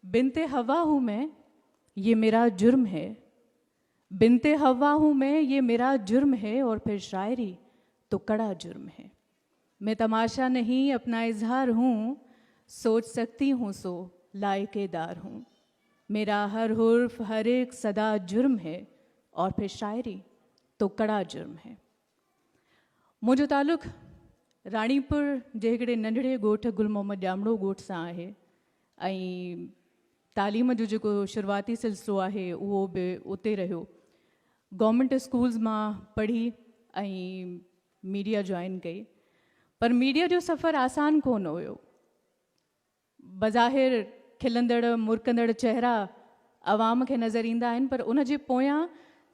بنت حوا هون مين يه ميرا جرم هي بنت حوا هون مين يه ميرا جرم هي اور پھر شاعري تو ڪڙا جرم هي مين تماشا نهين اپنا اظهار هون سوچ سکتي هون سو لائق دار هون ميرا هر حرف هر اک صدا جرم هي اور پھر شاعري تو ڪڙا جرم هي. منهنجو تعلق راڻيپور جي هڪڙي ننڍڙي ڳوٺ گل محمد ڄامڙو ڳوٺ سان آهي ۽ تعليم جو جيڪو شروعاتي سلسلو آهي اهو به اتي رهيو گورنمنٽ اسڪولز مان پڙهي ۽ ميڊيا جوائن ڪئي پر ميڊيا جو سفر آسان ڪونه هيو بظاهر کلندڙ مرڪندڙ چهرا عوام کي نظر ايندا آهن پر ان جي پويان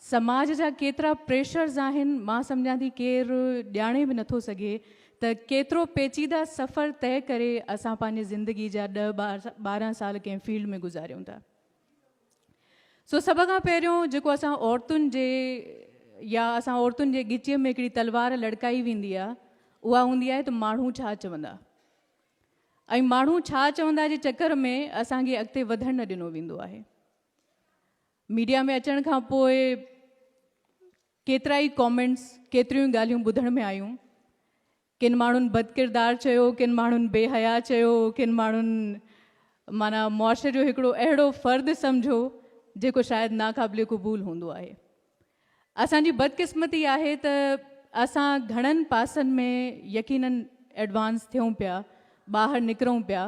سماج جا ڪيترا پريشرز آهن مان سمجهان ٿي ڪير ڄاڻي به نٿو سگهي ته ڪيترو پيچيده سفر طئي ڪري اسان پنهنجي زندگي جا ڏهه ٻارهن سال ڪنهن فيلڊ ۾ گذاريون ٿا سو سڀ کان پهريون جيڪو اسان عورتن جي يا اسان عورتن جي ڳچيء ۾ هڪڙي تلوار لڙڪائي ويندي آهي اها هوندي آهي ته ماڻهو ڇا چوندا ۽ ماڻهو ڇا چوندا جي چڪر ۾ اسان کي اڳتي وڌڻ نه ڏنو ويندو آهي ميڊيا ۾ اچڻ کان پوء ڪيترا ئي ڪامينٽس ڪيتريون ئي ڳالهيون ٻڌڻ ۾ آيون ڪن ماڻهن بد ڪردار چيو ڪن ماڻهن بي حيا چيو ڪن ماڻهن مانا معاشري جو هڪڙو اهڙو فرد سمجهو جيڪو شايد ناقابل قبول هوندو آهي اسان جي بدقسمتي آهي ته اسان گهڻن پاسن ۾ يقينن ايڊوانس ٿيون پيا، ٻاهر نڪرون پيا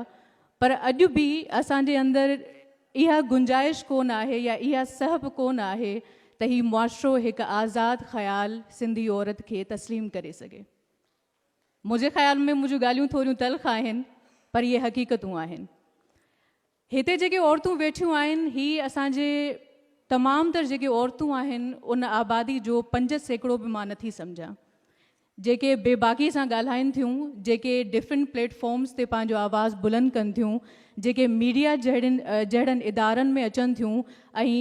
پر اڄ به اسان جي اندر اها گنجائش ڪونه آهي يا اها سهپ ڪونه آهي ته هي معاشرو هڪ آزاد خيال سنڌي عورت کي تسليم ڪري سگهي. منهنجي خيال ۾ منهنجون ڳالهيون ٿوريون تلخ آهن پر اهي حقيقتون آهن. هتي جيڪي عورتون ويٺيون آهن هي اسان جي تمام تر جيڪي عورتون آهن ان آبادي جو پنج سيڪڙو به مان نٿي سمجهان جيڪي بي باڪي سان ڳالهائين ٿيون جيڪي ڊفرنٽ پليٽ فارمز تي پنهنجو آواز بلند ڪن ٿيون جيڪي ميڊيا جهڙين جهڙن ادارن ۾ اچن ٿيون ۽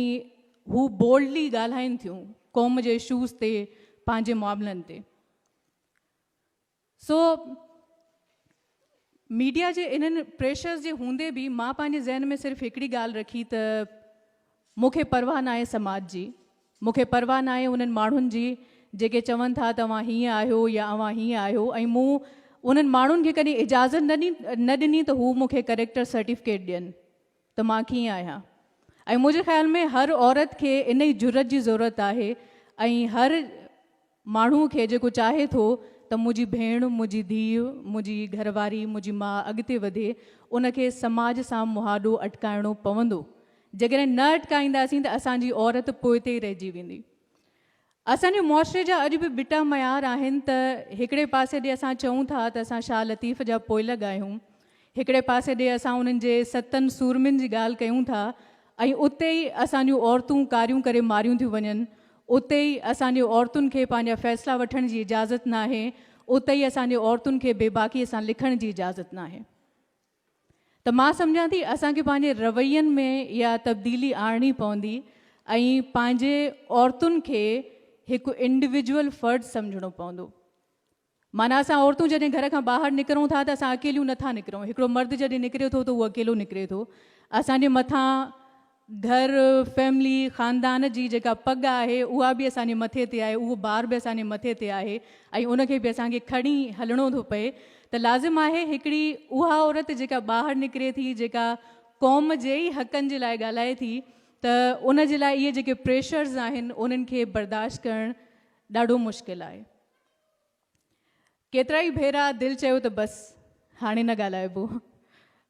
هو بولڊلي ڳالهائين ٿيون قوم جي اشوز تي پنهنجي معاملن تي. سو ميڊيا جي انهن پريشرز جي هوندي به مان پنهنجي ذهن ۾ صرف هڪڙي ڳالهه رکي ته مون کي پرواهه ناهي سماج جي، مون کي پرواهه ناهي انهن ماڻهن جي جيڪي چون ٿا ته اوهان هيئن آهيو يا اوهان هيئن آهيو ۽ مون انهن ماڻهن کي ڪڏهن اجازت نه ڏني ته هو مون کي ڪريڪٽر سرٽيفڪيٽ ڏين ته مان ڪيئن آهيان ۽ منهنجي خيال ۾ هر عورت کي انهي جرئت جي ضرورت آهي ۽ هر ماڻهوء کي جيڪو چاهي ٿو ته منهنجي ڀيڻ، منهنجي ڌيء، منهنجي گهر واري، منهنجي ماء اڳتي وڌي، ان کي سماج سان مهاڏو اٽڪائڻو پوندو. جيڪڏهن نه اٽڪائينداسين ته اسان جي عورت پوئتي ئي رهجي ويندي. اسان جي معاشري جا اڄ به ٻٽا معيار آهن ته هڪڙي پاسي ڏي اسان چئون ٿا ته اسان شاهه لطيف جا پوئلڳ آهيون هڪڙي پاسي ڏي اسان انهن جي ستن سورمين جي ڳالهه ڪيون ٿا ۽ اتي ئي اسان جون عورتون ڪاريون ڪري ماريون ٿيون وڃن، اتي ئي اسان جي عورتن کي پنهنجا فيصلا وٺڻ جي اجازت ناهي، اتي ئي اسان جي عورتن کي بيباڪيء سان لکڻ جي اجازت ناهي. ته مان سمجهان ٿي اسان کي پنهنجي روين ۾ اها تبديلي آڻڻي پوندي ۽ پنهنجي عورتن کي هڪ انڊويجوئل فرد سمجهڻو پوندو. معنيٰ اسان عورتون جڏهن گهر کان ٻاهر نڪرون ٿا ته اسان اڪيليون نه ٿا نڪرون، هڪڙو مرد جڏهن نڪري ٿو ته اهو اڪيلو نڪري ٿو. اسان جي مٿان گهر، فيملي، خاندان جي جيڪا پڳ آهي اها به اسان جي مٿي تي آهي، اهو بار به اسان جي مٿي تي آهي ۽ ان کي به اسان کي کڻي هلڻو ٿو پئي ته لازم آهي هڪڙي اها عورت جيڪا ٻاهر نڪري ٿي، جيڪا قوم جي ئي حقن جي لاء ڳالهائي ٿي ته ان جي لاء اهي جيڪي پريشرز آهن انهن کي برداشت ڪرڻ ڏاڍو مشڪل آهي. ڪيترائي ڀيرا دل چيو ته بس هاڻي نه ڳالهائبو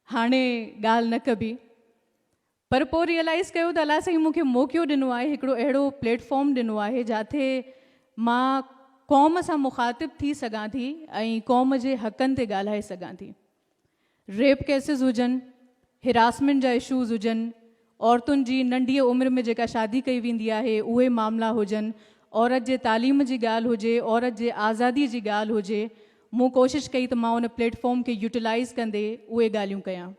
هاڻي ڳالهه نه ڪبي پر پوء ريئلائز ڪيو ته الله سائين مونکي موقعو ڏنو آهي هڪڙو اهڙو پليٽ فارم ڏنو آهي جاٿي مان قوم سان مخاطب ٿي سگهان ٿي ۽ قوم جي حقن تي ڳالهائي سگهان ٿي ريپ ڪيسز هجن، هراسمينٽ جا اشوز هجن، عورتن جي ننڍيء عمر ۾ جيڪا شادي ڪئي ويندي آهي اهي معاملا هجن، عورت جي تعليم جي ڳالهه هجي، عورت جي آزادي جي ڳالهه هجي، مون ڪوشش ڪئي ته مان ان پليٽ فارم کي يوٽيلائيز ڪندي اهي ڳالهيون ڪيان.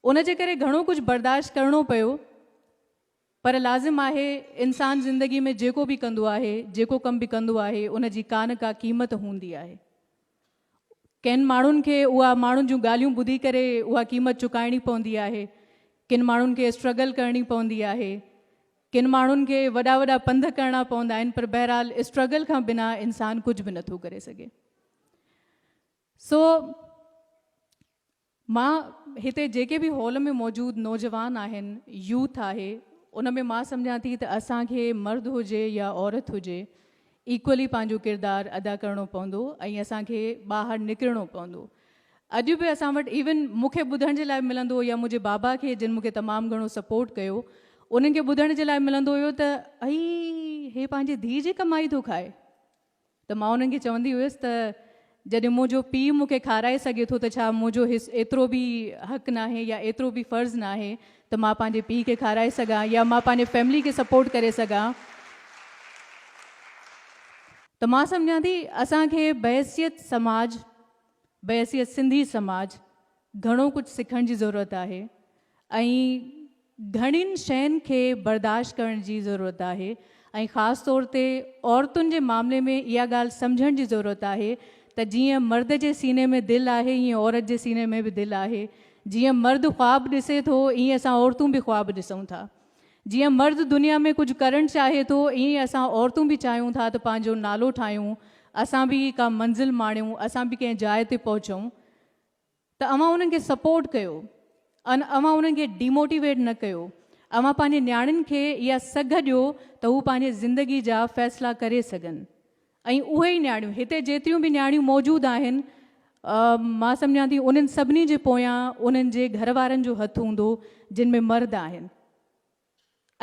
ان جي ڪري گهڻو ڪجهه برداشت ڪرڻو پيو پر لازم آهي انسان زندگي ۾ جيڪو به ڪندو آهي جيڪو ڪم به ڪندو آهي ان جي ڪا نه ڪا قيمت هوندي آهي ڪن ماڻهن کي اها ماڻهن جون ڳالهيون ٻڌي ڪري اها قيمت چڪائڻي پوندي آهي ڪن ماڻهن کي اسٽرگل ڪرڻي پوندي آهي ڪن ماڻهن کي وڏا وڏا پنڌ ڪرڻا پوندا آهن پر بهرحال اسٽرگل کان بنا انسان ڪجهه به نٿو ڪري سگهي سو مان هتي جيڪي به هال ۾ موجود نوجوان آهن، يوٿ آهي، ان ۾ مان سمجهان ٿي ته اسان کي مرد هجي يا عورت هجي ايڪولي پنهنجو ڪردار ادا ڪرڻو پوندو ۽ اسان کي ٻاهر نڪرڻو پوندو. اڄ به اسان وٽ ايون مون کي ٻڌڻ جي لاء ملندو يا منهنجي بابا کي جن مون کي تمام گهڻو سپورٽ ڪيو انهن کي ٻڌڻ جي لاء ملندو هيو ته اي هي پنهنجي ڌيء جي ڪمائي ٿو کائي. ته مان انهن کي چوندي هيس ته جڏهن منهنجو پيء مون کي کارائي سگهي ٿو ته ڇا منهنجو هي ايترو به حق ناهي يا ايترو به فرض ناهي ته مان پنهنجي پيء کي کارائي سگهان يا مان پنهنجي فيملي کي سپورٽ ڪري سگهان ته مان سمجهان ٿي اسان کي بحيثيت سماج بحيثيت سنڌي سماج گهڻو ڪجهه سکڻ جي ضرورت آهي ۽ گهڻين شين کي برداشت ڪرڻ جي ضرورت آهي ۽ خاص طور تي عورتن جي معاملي ۾ اها ڳالهه سمجهڻ جي ضرورت آهي ته جيئن مرد جي سيني ۾ دل آهي ايئن عورت جي سيني ۾ به دل آهي جيئن مرد خواب ڏسي ٿو ايئن اسان عورتون به خواب ڏسون ٿا جيئن مرد دنيا ۾ ڪجهه ڪرڻ چاهي ٿو ايئن اسان عورتون به چاهيون ٿا ته پنهنجو نالو ٺاهيون اسان به ڪا منزل ماڻيون اسان به ڪنهن جاء تي پهچون ته اوهان انهن کي سپورٽ ڪيو ان اوهان انهن کي ڊيموٽيويٽ نه ڪيو اوهان پنهنجي نياڻين کي اها سگهه ڏيو ته هو پنهنجي زندگي جا فيصلا ڪري سگهن ۽ اهي ئي نياڻيون هتي جيتريون به نياڻيون موجود آهن مان سمجهان ٿي انهن سڀني جي پويان انهن جي گهر وارن جو هٿ هوندو جن ۾ مرد آهن.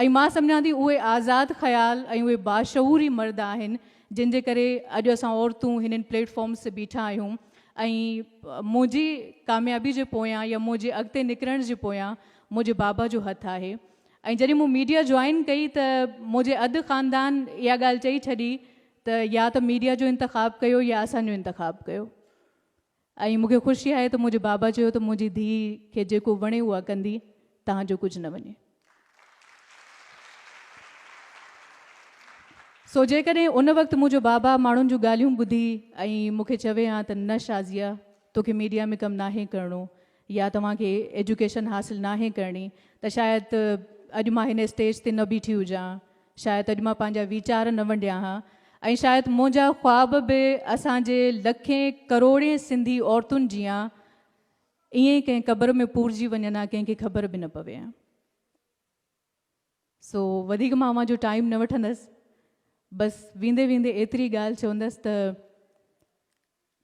۽ مان سمجهان ٿي اهي آزاد خيال ۽ اهي باشعور ئي مرد آهن جن جي ڪري اڄ اسان عورتون هنن پليٽ فارمز تي بيٺا آهيون ۽ منهنجي ڪاميابي جي پويان يا منهنجي اڳتي نڪرڻ جي پويان منهنجي بابا جو هٿ آهي ۽ جڏهن مون ميڊيا جوائن ڪئي ته منهنجي اڌ خاندان اها ڳالهه چئي ڇڏي ته يا ته ميڊيا جو انتخاب ڪيو يا اسان جو انتخاب ڪيو ۽ مون کي خوشي آهي ته منهنجي بابا چيو ته منهنجي ڌيء کي جيڪو وڻي اها ڪندي تان جو ڪجهه نه وڃي. سو جيڪڏهن ان وقت منهنجو بابا ماڻهن جون ڳالهيون ٻڌي ۽ مون کي چوي ها ته نه شازيه توکي ميڊيا ۾ ڪم ناهي ڪرڻو يا توهان کي ايجوڪيشن حاصل ناهي ڪرڻي ته شايد اڄ مان هن اسٽيج تي نه بيٺي هجان ها، شايد اڄ مان پنهنجا ويچار نه ونڊيان ها ۽ شايد منهنجا خواب به اسان جي لکين ڪروڙين سنڌي عورتن جيان ائين ڪنهن قبر ۾ پورجي وڃن ها ڪنهن کي خبر به نه پوي ها. سو وڌيڪ مان اوهان جو ٽائيم نه وٺندس بس ويندي ويندي ايتري ڳالهه چوندس ته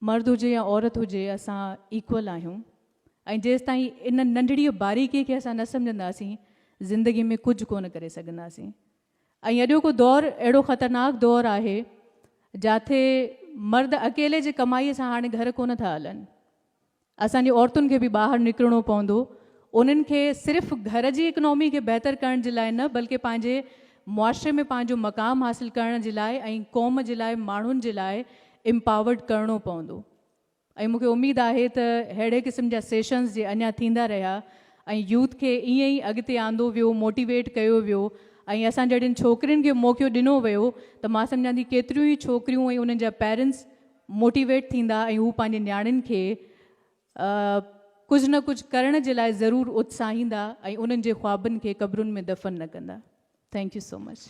مرد هجي يا عورت هجي اسان ايڪول آهيون ۽ جيستائين ان ننڍڙي باريڪي کي اسان نه سمجهنداسين زندگي ۾ ڪجهه ڪونه ڪري سگهنداسين ۽ اڄوڪو دور اهڙو خطرناڪ دور آهي جاٿي مرد اڪيلي جي ڪمائي سان هاڻي گهر ڪونه ٿا هلن اسان جي عورتن کي به ٻاهر نڪرڻو پوندو، انهن کي صرف گهر جي اڪنامي کي بهتر ڪرڻ جي لاء نه بلڪه پنهنجي معاشري ۾ پنهنجو مقام حاصل ڪرڻ جي لاء ۽ قوم جي لاء ماڻهن جي لاء Empowered ڪرڻو پوندو ۽ مون کي اميد آهي ته ههڙي قسم جا سيشنز جي اڃا ٿيندا رهيا ۽ يوٿ کي ائين ئي اڳتي آندو ويو موٽيويٽ ڪيو ويو ۽ اسان جهڙين ڇوڪرين کي موقعو ڏنو ويو ته مان سمجهان ٿي ڪيتريون ئي ڇوڪريون ۽ انهن جا پيرنٽس موٽيويٽ ٿيندا ۽ هو پنهنجي نياڻين کي ڪجهه نه ڪجهه ڪرڻ جي لاء ضرور اتساهيندا ۽ انهن جي خوابن کي قبرن ۾ دفن نه ڪندا. Thank you so much.